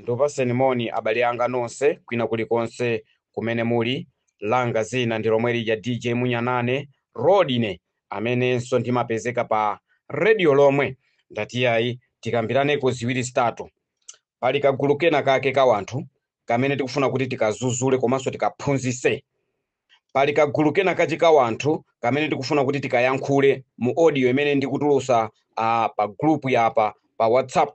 Ndikupatseni moni abale anga nonse kwina kuli konse kumene muli, langa zina ndi lomwe lija DJ Munyanane, Rodney, amenenso ndimapezeka pa Radio Lomwe, ndati iyayi tikambiraneko ziwiri zitatu. Pali kagulu kena kake ka wanthu kamene tikufuna kuti tikazuzule komanso tikaphunzise. pali kagulu kena kachi ka wanthu kamene tikufuna kuti tikayankhule mu audio imene ndikutulusa uh, pa group yapa pa whatsapp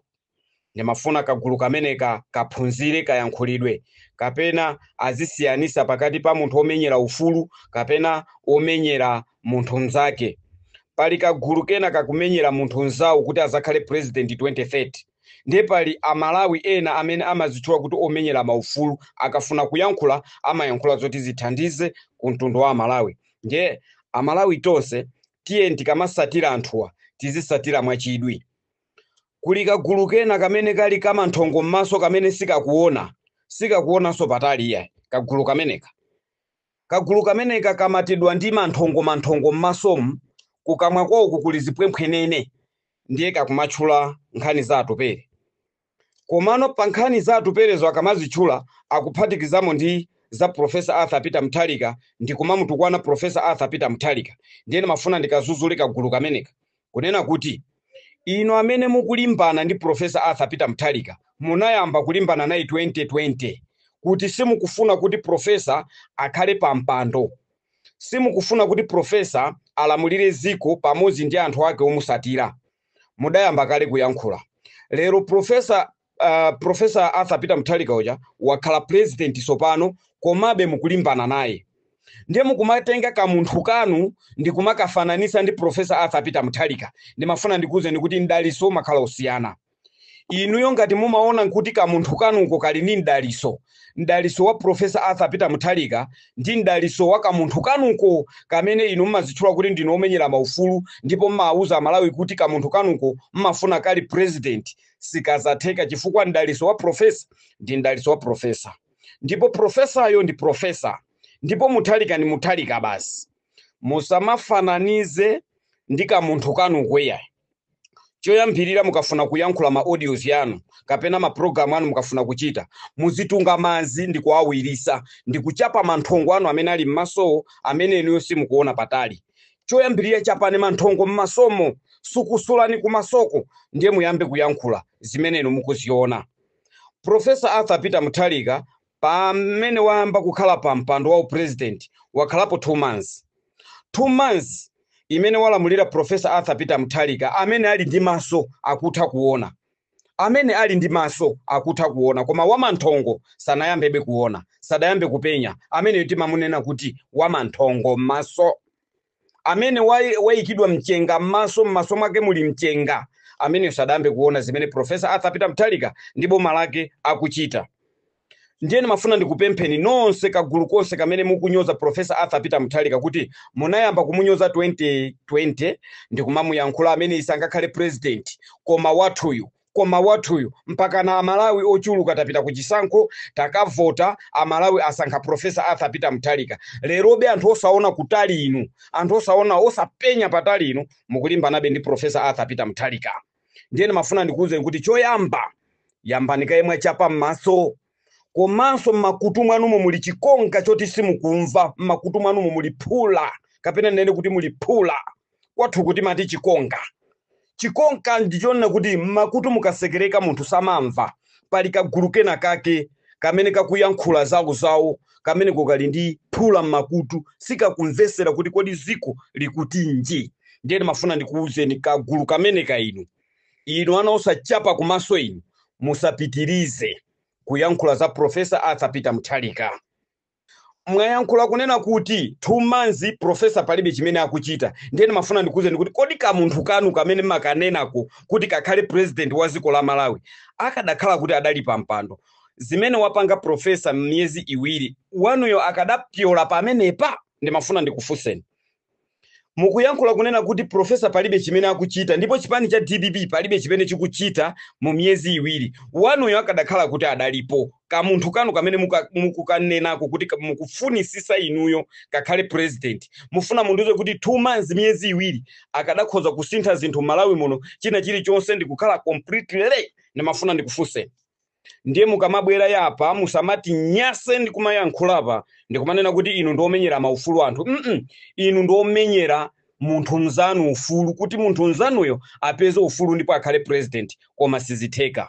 ndimafuna kagulu kameneka kaphunzire kayankhulidwe kapena azisiyanisa pakati pa munthu omenyera ufulu kapena omenyera munthu mnzake pali kagulu kena kakumenyera munthu mnzawo kuti azakhale president 2030 Ndiye pali a Malawi ena amene amazitchula kuti omenyera ma ufulu, akafuna kuyankhula amayankhula zoti zithandize ku mtundu wa a Malawi. Ndiye a Malawi tonse tiyeni tikamasatira anthuwa tizisatira mwa chidwi. Kuli ka gulu kena kamene kali ka manthongo m'maso kamene sikakuona, sikakuonanso patali iyayi ka gulu kameneka. Kagulu kameneka kamatidwa ndi manthongomanthongo m'masomu, kukamwa kwawoko kuli zipwemphwenene, ndiye kakumatchula nkhani za atupele. Komano pankhani za Atupelezo akamazitchula akuphatikizamo ndi za Prof. Arthur Peter Mutharika ndi kumamutukwana Prof. Arthur Peter Mutharika. Ndiye ndimafuna ndikazuzule kagulu kameneka kunena kuti, Inu amene mukulimbana ndi Professor Arthur Peter Mutharika munayamba kulimbana naye 2020 kuti simukufuna kuti Professor akhale pampando, simukufuna kuti Professor alamulire ziko pamodzi ndi anthu ake omusatira. Mudayamba kale kuyankhula. Lero Professor uh, professor arthur peter mutharika uja wakhala president sopano komabe mukulimbana naye ndiye mukumatenga kamunthu kanu ndi kumakafananisa ndi professor arthur peter mutharika ndimafuna ndikuwuzeni kuti mdaliso umakhala usiyana inuyo ngati mumaona kuti kamunthu kanuko kali ndi mdaliso mdaliso wa profesa arthur peter mutharika ndi mdaliso wa kamunthu kanuko kamene inu mumazitchula kuti ndinu omenyera maufulu ndipo mmawuza amalawi kuti kamunthu kanuko mmafuna kali president sikazatheka chifukwa mdaliso wa profesa ndi mdaliso wa profesa ndipo profesayo ndi profesa ndipo muthalika ndi muthalika basi musamafananize ndi kamunthu kanuko iya choyambirira mukafuna kuyankhula ma audios yanu kapena ma program anu mukafuna kuchita muzitunga mazi ndi kuawirisa ndi kuchapa manthongo anu amene ali m'maso amene inuyo simukuona patali choyambirira chapani manthongo m'masomo sukusulani kumasoko ndiye muyambe kuyankhula zimene inu mukuziona profesa arthur peter mutharika pamene wayamba kukhala pa mpando wa upresident wakhalapo two months two months imene walamulira profesa arthur peter mutharika amene ali ndi maso akutha kuona Amene ali ndi maso akutha kuona, koma wamanthongo sanayambe be kuona, sadayambe kupenya, ameneyo timamunena kuti wamanthongo m'maso. Amene wai- waikidwa mchenga m'maso, m'maso mwake muli mchenga, ameneyo sadayambe kuona zimene Professor Arthur Peter Mutharika ndi boma lake akuchita. ndiye ndimafuna ndikupempheni nonse kagulu konse kamene mukunyoza profesa arthur peter muthalika kuti munayamba kumunyoza 2020 ndikumamuyankhula ameneyi sangakhale president koma wathuyu koma wathuyu mpaka na amalawi ochuluka tapita ku chisankho takavota amalawi asankha profesa arthur peter muthalika lerobe anthu osaona kutali inu anthu osaona osapenya patali inu mukulimbanabe ndi profesa arthur peter muthalika ndiye ndimafuna ndikuwuzeni kuti choyamba yambani kaye mwachapa m'maso komanso m'makutu mwanumo muli chikonga choti simukumva m'makutu mwanumo muli phula kapena ndinene kuti muli phula kwathu kuti amati chikonga chikonga ndichonena kuti m'makutu mukatsekereka munthu samamva pali kagulu kena kake kamene kakuyankhula zawo zawo kamene kakali ndi phula m'makutu sikakumvesera kuti kodi ziko likutinji ndiye ndimafuna ndikuwuzeni kagulu kameneka inu inu ana osachapa kumaso inu musapitirize kuyankhula za profesa arthur peter mutharika mwayankhula kunena kuti two months profesa palibe chimene akuchita ndiye ndimafuna ndikufunseni kuti kodi kamunthu kanu kamene makanenako kuti kakhale president wa dziko la malawi akadakhala kuti adali pa mpando zimene wapanga profesa m'miyezi iwiri wanuyo akadapyola pamenepa ndimafuna ndikufunseni mukuyankhula kunena kuti profesa palibe chimene akuchita ndipo chipani cha dpp palibe chimene chikuchita mu miyezi iwiri wanuyo akadakhala kuti adalipo kamunthu kanu kamene muka- mukukanenako kuti ka- mukufunisisa inuyo kakhale president mufuna mundiuze kuti two months miyezi iwiri akadakhoza kusintha zinthu m'malawi muno china chilichonse ndikukhala completely ndimafuna ndikufunseni ndiye mukamabwera apa musamatinyase ndi kumayankhula apa ndikumanena kuti inu ndi omenyera maufulu a anthu mm inu ndi omenyera munthu mzanu ufulu kuti munthu mzanuyo apeze ufulu ndipo akhale president koma sizitheka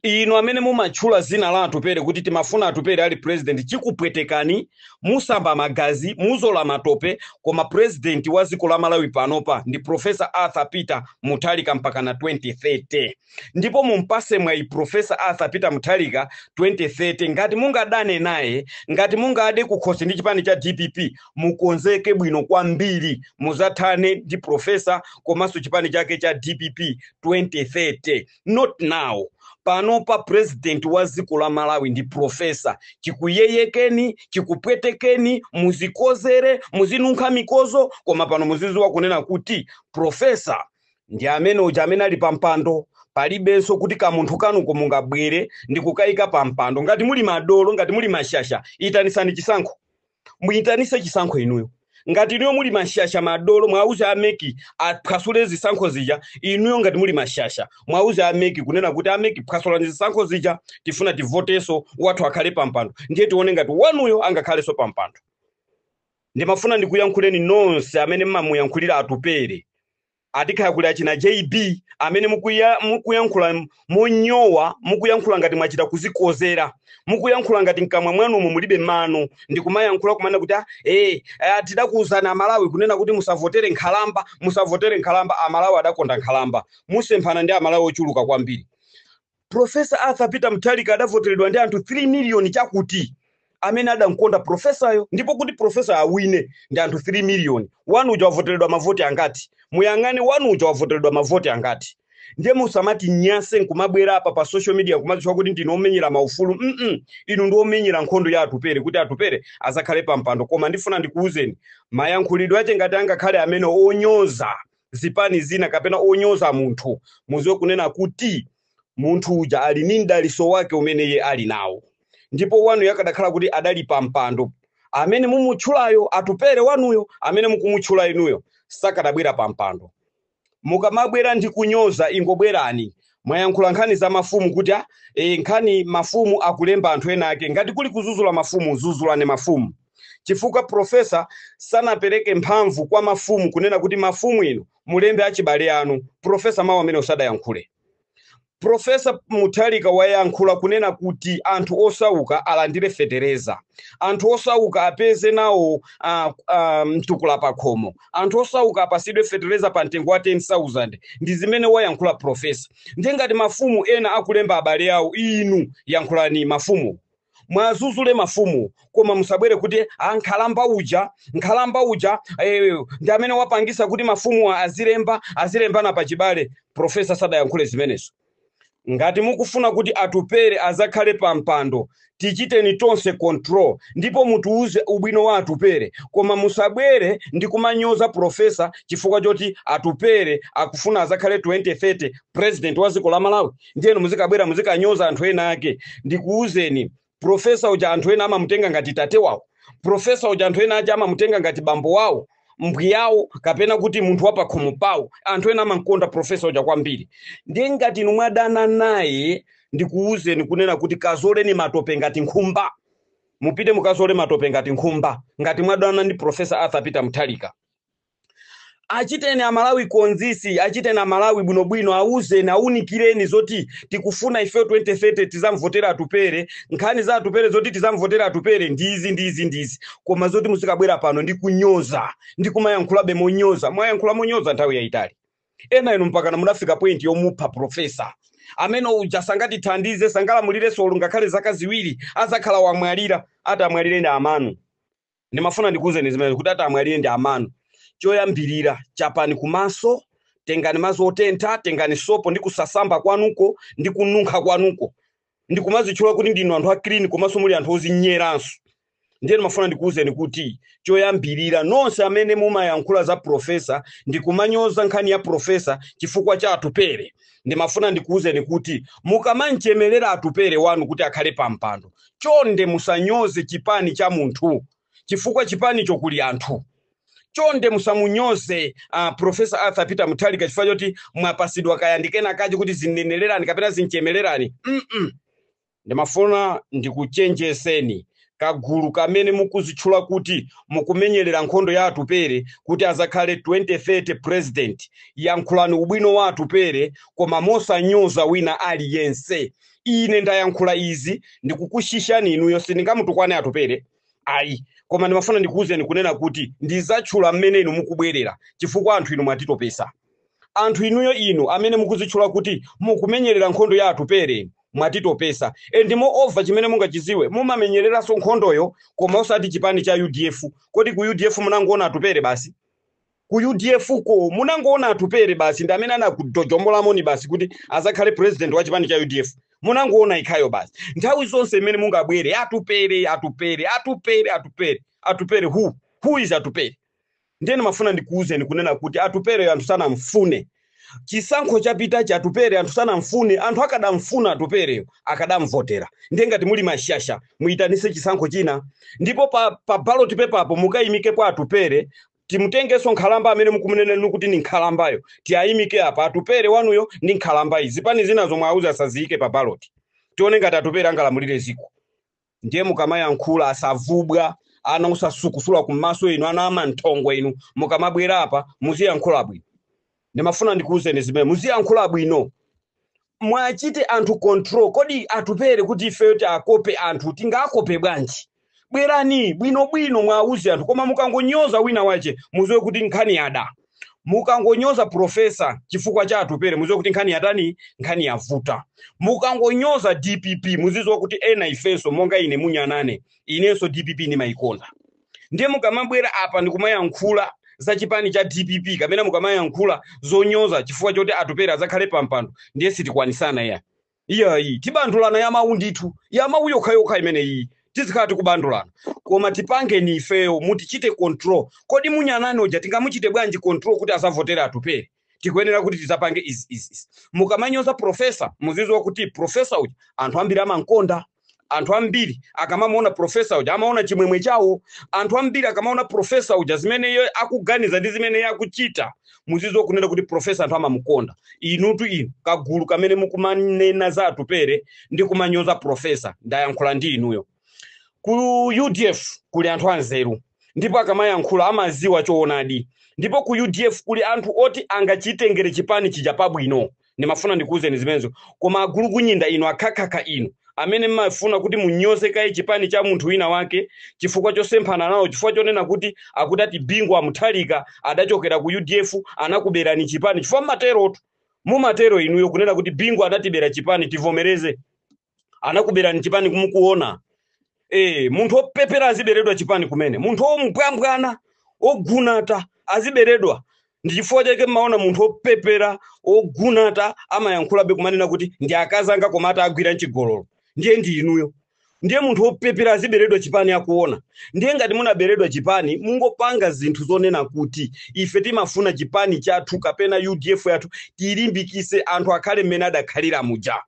inu amene mumatchula zina la atupere kuti timafuna atupere ali president chikupwetekani musamba magazi muzola matope koma president wa dziko la malawi panopa ndi profesa arthur peter muthalika mpaka na 2030 ndipo mumpase mwayi profesa arthur peter mutharika 2030 ngati mungadane naye ngati mungade kukhosi ndi chipani cha dpp mukonzeke bwino kwambiri muzathane ndi profesa komanso chipani chake cha dpp 2030 not now panopa president wa dziko la malawi ndi profesa chikuyeyekeni chikupwetekeni muzikozere muzinunkha mikozo koma pano muziziwa kunena kuti profesa ndi ameneuja amene ali pa mpando palibenso kuti kamunthu kanuko mungabwere ndi kukayika pa mpando ngati muli madolo ngati muli mashasha itanisani chisankho muyitanise chisankho inuyo ngati inuyo muli mashasha madolo mwauze ameki aphwasule zisankho zija inuyo ngati muli mashasha mwauze ameki kunena kuti ameki phwasulani zisankho zija tifuna tivoteso wathu akhale pa mpando ndiye tione ngati wanuyo angakhalenso pa mpando ndimafuna ndikuyankhuleni nonse amene mmamuyankhulira atupere atikhala kuli achina jb amene mukuya- mukuyankhula monyowa mukuyankhula ngati mwachita kuzikozera mukuyankhula ngati mkamwa mwanumo mulibe mano ndikumayankhula kumana kuti ah, eh, ah, tidakuwuzani aMalawi kunena kuti musavotere nkhalamba musavotere nkhalamba amalawi adakonda nkhalamba musemphana ndi amalawi ochuluka kwambiri Professor Arthur Peter Mutharika adavoteredwa ndi anthu 3 miliyoni chakuti amene adamkonda profesayo ndipo kuti profesa awine ndi anthu 3 miliyoni wanu uja wavoteredwa mavoti angati muyang'ane wanu uja wavoteredwa mavoti angati ndiye musamatinyase nkumabwera apa pa social media kumazitcha kuti ndinu omenyera maufulu mm inu ndi omenyera nkhondo ya atupere kuti atupere azakhale pa mpando koma ndifuna ndikuwuzeni mayankhulidwe ake ngati angakhale amene onyoza zipani zina kapena onyoza munthu muziwe kunena kuti munthu uja ali ni mdaliso wake umene iye ali nawo ndipo wanuyo akadakhala kuti adali pa mpando amene mumutchulayo atupere wanuyo amene mukumutchula inuyo sakadabwera pa mpando mukamabwera ndi kunyoza ingobwerani mwayankhula nkhani za mafumu kuti ah, e, nkhani mafumu akulemba anthu ena ake ngati kuli kuzuzula mafumu zuzulani mafumu chifukwa profesa sanapereke mphamvu kwa mafumu kunena kuti mafumu inu mulembe achibale anu profesa mawu amene sadayankhule profesa mutharika wayankhula kunena kuti anthu osauka alandire fetereza anthu osauka apeze nawo uh, uh, mtukula pakhomo anthu osauka apasidwe fetereza pa mtengo wa 10000 ndi zimene wayankhula profesa ndiye ngati mafumu ena akulemba abale awo inu yankhulani mafumu muwazuzule mafumuwo koma musabwere kuti a nkhalamba uja nkhalamba uja eh, ndi amene wapangisa kuti mafumu azilemba azilembana pachibale profesa sadayankhule zimenezo ngati mukufuna kuti atupere azakhale pa mpando tichiteni tonse control ndipo mutiuze ubwino wa atupere koma musabwere ndi kumanyoza profesa chifukwa choti atupere akufuna azakhale 2030 president wa dziko la malawi ndiyeno muzikabwera muzikanyoza anthu ena ake ndikuwuzeni profesa uja anthu ena amamutenga ngati tate wawo profesa uja anthu ena ake amamutenga ngati bambo wawo mbwiyawo kapena kuti munthu wapakhomo pawo anthu ena amamkonda profesa uja kwambiri ndiye ngati inu mwadana naye ndikuwuzeni kunena kuti kazoleni matope ngati nkhumba mupite mukazole matope ngati nkhumba ngati mwadana ndi profesa arthur peter mutharika achiteni amalawi konzisi achiteni amalawi bwinobwino auzeni aunikireni zoti tikufuna ifeyo 2030 tizamvotera atupere nkhani za atupere zoti tizamvotera atupere ndizi ndizi ndizi koma zoti muzingobwera pano ndi kunyoza ndi kumayankhulabe monyoza mwayankhula monyoza nthawi yayitali ena inu mpakana munafika point yomupha profesa amene uja sangatithandize sangalamulirenso olo ngakhale zaka ziwiri azakhala wamwalira atamwalire ndi amanu ndimafuna ndikuwuzeni zimenezi kuti atamwalire ndi amanu choyambirira chapani kumaso tengani mazi otentha tengani sopo ndi kusasamba kwanuko ndi kununkha kwanuko ndi kumazitchula kuti ndinu anthu a clean komanso muli anthu ozinyeranso ndiye ndimafuna ndikuwuzeni kuti choyambirira nonse amene mumayankhula za profesa ndi kumanyoza nkhani ya profesa chifukwa cha atupere ndimafuna ndikuwuzeni kuti mukamamchemerera atupere wanu kuti akhale pampando chonde musanyoze chipani cha munthu chifukwa chipanicho kuli anthu chonde musamunyoze uh, professor arthur peter muthalika chifukwa choti mwapasidwa kaya ndi kenakake kuti zinenererani kapena zimchemererani mm -mm. ndimafuna ndikuchenjezeni kagulu kamene mukuzitchula kuti mukumenyerera nkhondo ya atupere kuti azakhale 2030 president yankhulani ubwino wa atupere koma mosanyoza wina aliyense ine ndayankhula izi ndikukushishani inuyo sindingamutukwane atupere ayi koma ndimafuna ndikuwuzeni kunena kuti ndizatchula mmene inu mukubwerera chifukwa anthu inu mwatitopesa anthu inuyo inu amene mukuzitchula kuti mukumenyerera nkhondo ya atupere mwatitopesa and moreover chimene mungachiziwe muzimenyeranso nkhondoyo koma osati chipani cha udf kodi ku udf munangoona atupere basi Ku udf ko munangoona Atupere basi ndi amene anakutong'olani m'maso basi kuti azakhale president wa chipani cha udf. Munangoona yekhayo basi. Nthawi zonse mmene mungabwere Atupere, Atupere, Atupere, Atupere, Atupere who? Who is Atupere? Ndiye ndimafuna ndikuwuzeni kunena kuti Atupereyo anthu sanamfune. Chisankho chapitacha Atupere anthu sanamfune, anthu akadamfuna Atupereyo akadamvotera. Ndiye ngati muli mashasha muyitanise chisankho china ndipo pa, pa ballot paper apo mukayimikepo Atupere timutengenso nkhalamba amene mukumunena inu kuti ndi nkhalambayo tiayimike apa atupere wanuyo ndi nkhalambayi zipani zina zo mwauze asaziyike pa baloti tione ngati atupere angalamulire ziko ndiye mukamayankhula asavubwa ana osasukusula kummaso inu ana amanthongo inu mukamabwera apa muziyankhula bwino ndimafuna ndikuwuzeni zimene muziyankhula bwino mwachite anthu control kodi atupere kuti ifeyo tiakope anthu tingaakope bwanji bwerani bwinobwino mwawuze anthu koma mukangonyoza wina wache muziwe kuti nkhani yada mukangonyoza profesa chifukwa cha atupere muziwe kuti nkhani yatani nkhani yavuta mukangonyoza dpp muziziwa kuti ena ifenso monga ine munyanane inenso dpp ndimayikonda ndiye mukamabwera apa ndikumayankhula za chipani cha dpp kapena mukamayankhula zonyoza chifukwa choti atupere azakhale pampando ndiye sitikwanisana iya iyayi tibandulana ya mawu ndithu ya mawu yokhayokha imeneyi tizikhala tikubandulana koma tipangeni ifeyo mutichite control kodi munyanani uja tingamuchite bwanji control kuti asavotere atupere tikuyenera kuti tizapange izi izi izi. mukamanyoza profesa muziziwa kuti profesa uja anthu ambiri amankonda anthu ambiri akamamuona profesa uja amaona chimwemwe chawo anthu ambiri akamaona profesa uja zimene iye akuganiza ndi zimene iye akuchita muziziwa kunena kuti profesa anthu amamukonda inutu inu kagulu kamene mukumanena za atupere ndi kumanyoza profesa ndayankhula ndi inuyo ku udf kuli anthu anzeru ndipo akamayankhula amaziwa choonadi ndipo ku udf kuli anthu oti angachitengere chipani chija pabwino ndimafuna ndikuwuzeni zimenezo koma agulukunyinda inu akhakhakha inu amene mmafuna kuti munyoze kaye chipani cha munthu wina wake chifukwa chosemphana nawo chifukwa chonena kuti akuti ati bingu wa muthalika adachokera ku udf anakuberani chipani chifukwa mmaterotu mumatero inuyo kunena kuti bingu adatibera chipani tivomereze anakuberani chipani kumukuona eh munthu opepera aziberedwa chipani kumene munthu ombwambwana ogunata aziberedwa ndi chifukwa chake mmaona munthu opepera ogunata amayankhulabe kumanena kuti ndi akazi anga koma atawagwira mchigololo ndiye ndi inuyo ndiye munthu opepera aziberedwa chipani akuona ndiye ngati munaberedwa chipani mungopanga zinthu zonena kuti ife timafuna chipani chathu kapena udf yathu tilimbikise anthu akhale mmene adakhalira muja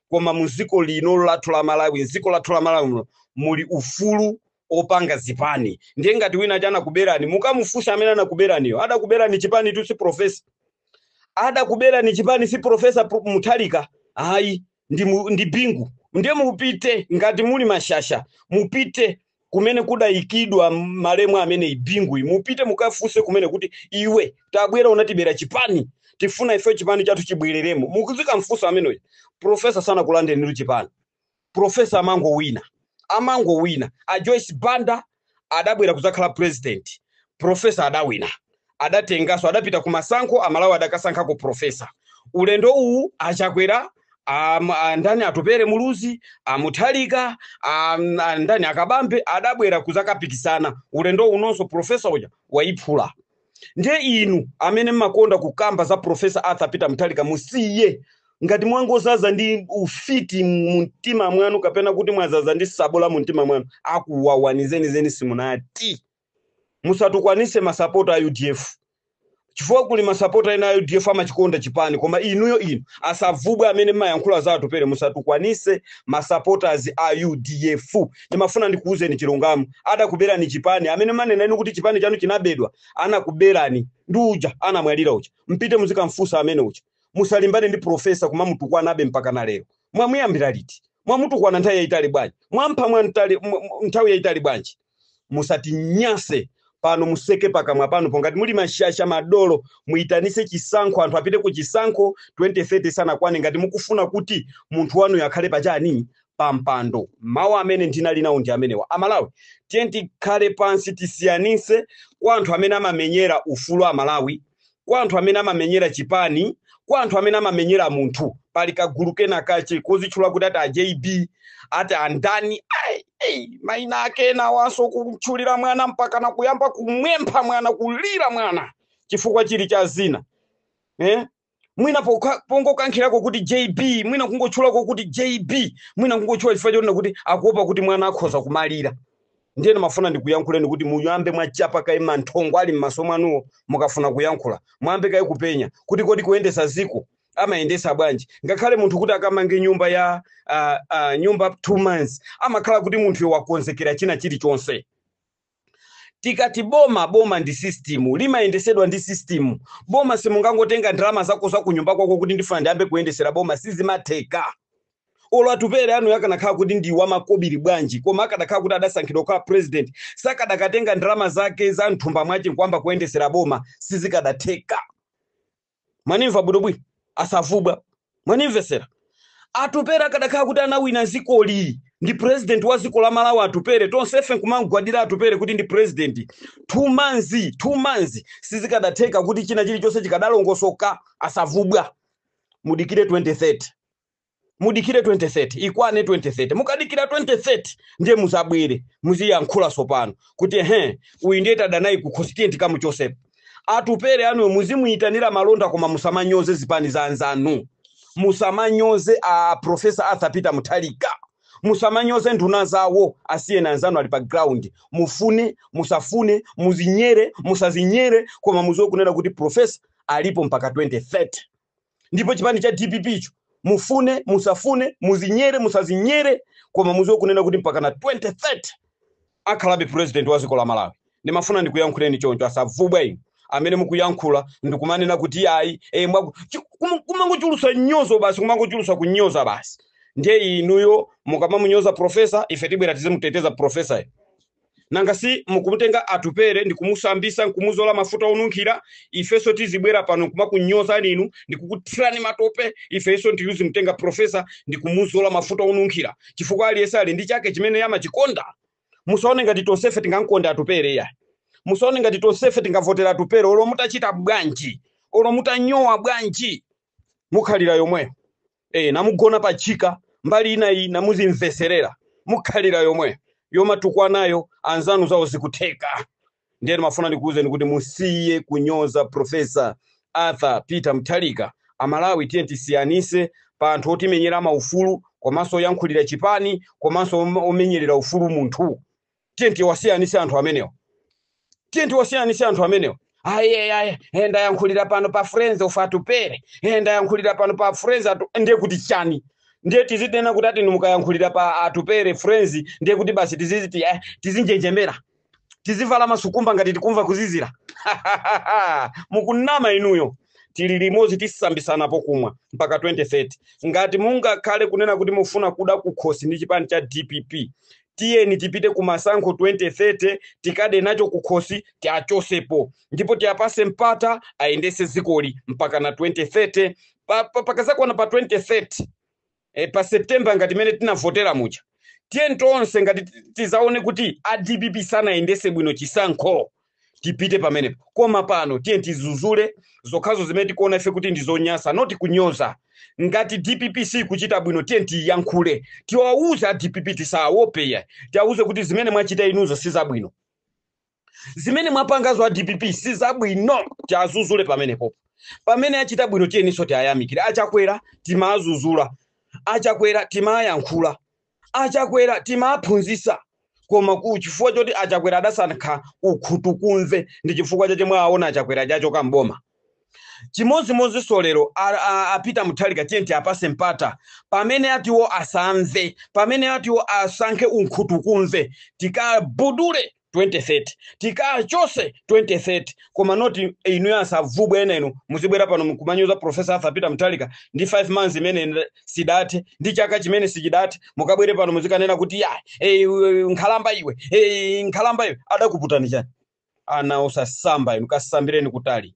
koma mu dziko lino lathu la malawi mdziko lathu la malawi muno muli ufulu opanga zipani ndiye ngati wina uja anakuberani mukamufunsa amene anakuberaniyo adakuberani chipani tu si profesa adakuberani chipani si profesa mutharika ayi ndi bingu ndiye mupite ngati muli mashasha mupite kumene kudayikidwa malemu ameneyi binguyi mupite mukafunse kumene kuti iwe tabwera unatibera chipani tifuna ife chipani chathu chibwereremo mudzikamfunsa ameneyo profesa sanakulandenitu chipani profesa amangowina amangowina a joyce banda adabwera kudzakhala president profesa adawina adatengaso adapita ku masankho amalawi adakasankhako profesa ulendo uwu achakwera am- a- ndani atupere muluzi amuthalika am- a- ndani akabambe adabwera kuzakapikisana ulendo unonso profesa uja wayiphula ndiye inu amene mmakonda kukamba za profesa arthur peter muthalika musiye ngati mwangozaza ndi ufiti mu mtima mwanu kapena kuti mwazaza ndi sabola mu mtima mwanu akuwawani zenizeni simunati musatukwanise masapota a udf chifukwa kuli masapota ena a udf amachikonda chipani koma inuyo inu osavubwe amene mumayankhula za atupere musatukwanise masapotas a udf ndimafuna ndikuwuzeni chilungamo adakuberani chipani amene manena inu kuti chipani chanu chinabedwa anakuberani ndi uja anamwalira uja mpite muzikamfunsa amene uja musalimbane ndi profesa kumamutukwanabe mpaka na lero mwamuyambira liti mwamutukwana nthawi yayitali bwanji mwampha mwa ntali- mwa- mwa- nthawi yayitali bwanji musatinyase pano museke pakamwa pano pongati muli mashasha madolo muitanise chisankho anthu apite ku chisankho 2030 sanakwane ngati mukufuna kuti munthu wanuyo akhale pachani pampando mawu amene ndinali nawo ndi amenewa amalawi tiyeni tikhale pansi tisiyanise kwa anthu amene amamenyera ufulu amalawi kwa anthu amene amamenyera chipani kwa anthu amene amamenyera munthu pali kagulu kena kache kozitchula kuti ati a jb ati andani ai, ai, maina ake enawonso kutchulira mwana mpaka na kuyamba kumuopsa mwana kulira mwana chifukwa chili cha dzina eh? mwina pokha- pongokankhirako kuti jb mwina kungotchulako kuti jb mwina kungotchula chifukwa chonena kuti akuopa kuti mwana akhoza kumalira ndiye ndimafuna ndikuyankhuleni kuti muyambe mwachapa kaye manthongo ali m'maso mwanuwo mukafuna kuyankhula muyambe kaye kupenya kuti kodi kuyendesa ziko amayendesa bwanji ngakhale munthu kuti akamange nyumba ya uh, uh, nyumba two months amakhala kuti munthuyo wakonzekera china chilichonse tikati boma boma ndi system limayendesedwa ndi system boma simungangotenga ndalama zako za kunyumba kwako kuti ndifuna ndiyambe kuyendesera boma sizimatheka olo atupere anuyo akanakhala kuti ndi wamakobiri bwanji koma akadakhala kuti adasankhidwa kukhala president sakadakatenga ndalama zake za mthumba mwache nkuyamba kuyendesera boma sizikadatheka mwanimva bwinobwino asavubwa mwanimvesera atupere akadakhala kuti anawina zikoli ali ndi president wa ziko la malawi atupere tonsefe nkumamgwadira atupere kuti ndi president two months two months sizikadatheka kuti china chilichonse chikadalongosoka asavubwa mudikire 2030 mudikire 2030 ikwane 2030 mukadikira 2030 ndiye muzabwere muziyankhula sopano kuti ehe uyu ndiye tadana naye kukhosi tiyeni tikamuchosepo atupere anuyo muzimuyitanira malonda koma musamanyoze zipani za anzanu musamanyoze a profesa arthur peter muthalika musamanyoze nduna zawo asiyeni anzanu ali pa ground mufune musafune muzinyere musazinyere koma muziwe kunena kuti profesa alipo mpaka 2030 ndipo chipani cha dpp icho mufune musafune muzinyere musazinyere koma muziwe kunena kuti mpaka na 2030 akhalabe president wa ziko la malawi ndimafuna ndikuyankhuleni choncho asavubwa inu amene mukuyankhula ndikumanena kuti ayi e, kumangochulusa nyozo basi kumangochulusa kunyoza basi ndiye inuyo mukamamunyoza profesa ife tibwera tizimuteteza profesa nanga si mukumutenga atupere ndi kumusambisa nkumuzola mafuta onunkhira ifenso tizibwera pano kumakunyozani inu ndi kukuthirani matope ifenso ndiye tizimutenga profesa ndi kumuzola mafuta onunkhira chifukwa aliyense ali ndi chake chimene amachikonda musaone ngati tonsefe tingamkonda atupere ya musaone ngati tonsefe tingavotera atupere olo mutachita bwanji olo mutanyowa bwanji mukhalira yomweyo e, namugona pa chika mbali ina iyi namuzimveserera mukhalira yomweyo yomatukwanayo anzanu zawo zikutheka ndiye ndimafuna ndikuwuzeni kuti musiye kunyoza profesa arthur peter mutharika amalawi tiye tisiyanise pa anthu otimenyera maufulu komanso oyankhulira chipani komanso om- omenyerera ufulu munthu tiyeni tiwasiyanise anthu amenewa tiyeni tiwasiyanise anthu amenewa ayi ayi ndayankhulira pano pa friends of atupere Eh, ndayankhulira pano pa friends atu ndiye kuti chani ndiye tizinena kuti chani mukayankhulira pa atupere friends ndiye kuti basi tiziziti eh, tizinjenjemera tizivala masikumba ngati tikumva kuzizira mukunama inuyo tili limodzi tisambisana chokweza mpaka 2030 ngati mungakhale kunena kuti mufuna kuda kukhosi ndi chipani cha dpp tiyeni tipite ku masankho 2030 tikade nacho kukhosi tiachosepo ndipo tiapase mpata ayendese zikoli mpakana 2030 pa, pa, pakazakwane pa 2030 e, pa september ngati mmene tinavotera muja tiyeni tonse ngati ti- tizaone kuti a dpp sanayendese bwino chisankho tipite pamenepo koma pano tiye tizuzule zokhazo zimene tikuona ife kuti ndi zonyansa not kunyoza ngati dpp sikuchita bwino tiye tiyankhule tiwawuze a dpp tisawopeya tiwawuze kuti zimene mwachita inuzo si zabwino zimene mwapangazo a dpp si zabwino tiazuzule pamenepo pamene achita bwino tiyeninso tiayamikire achakwera timaazuzula achakwera timayankhula achakwera timaphunzisa koma pa chifukwa choti achakwera adasankha unkhutukumve ndi chifukwa chache mwaona achakwera achoka mboma chimodzimodzinso lero a- a- a peter mutharika tiye tiapase mpata pamene atiwo asamve pamene atiwo asankhe unkhutukumve tikabudule 2030 tikawachose 2030 koma not inu asavubwe ena inu muzibwera pano mkumanyoza profesa arthur peter mutharika ndi 5 months imene ina- sidathe ndi chaka chimene sichidathe mukabwere pano muzikanena kuti ya eh, iwe, nkhalamba iwe eh, nkhalamba iwe adakuputani chani ana osasamba inu kasambireni kutali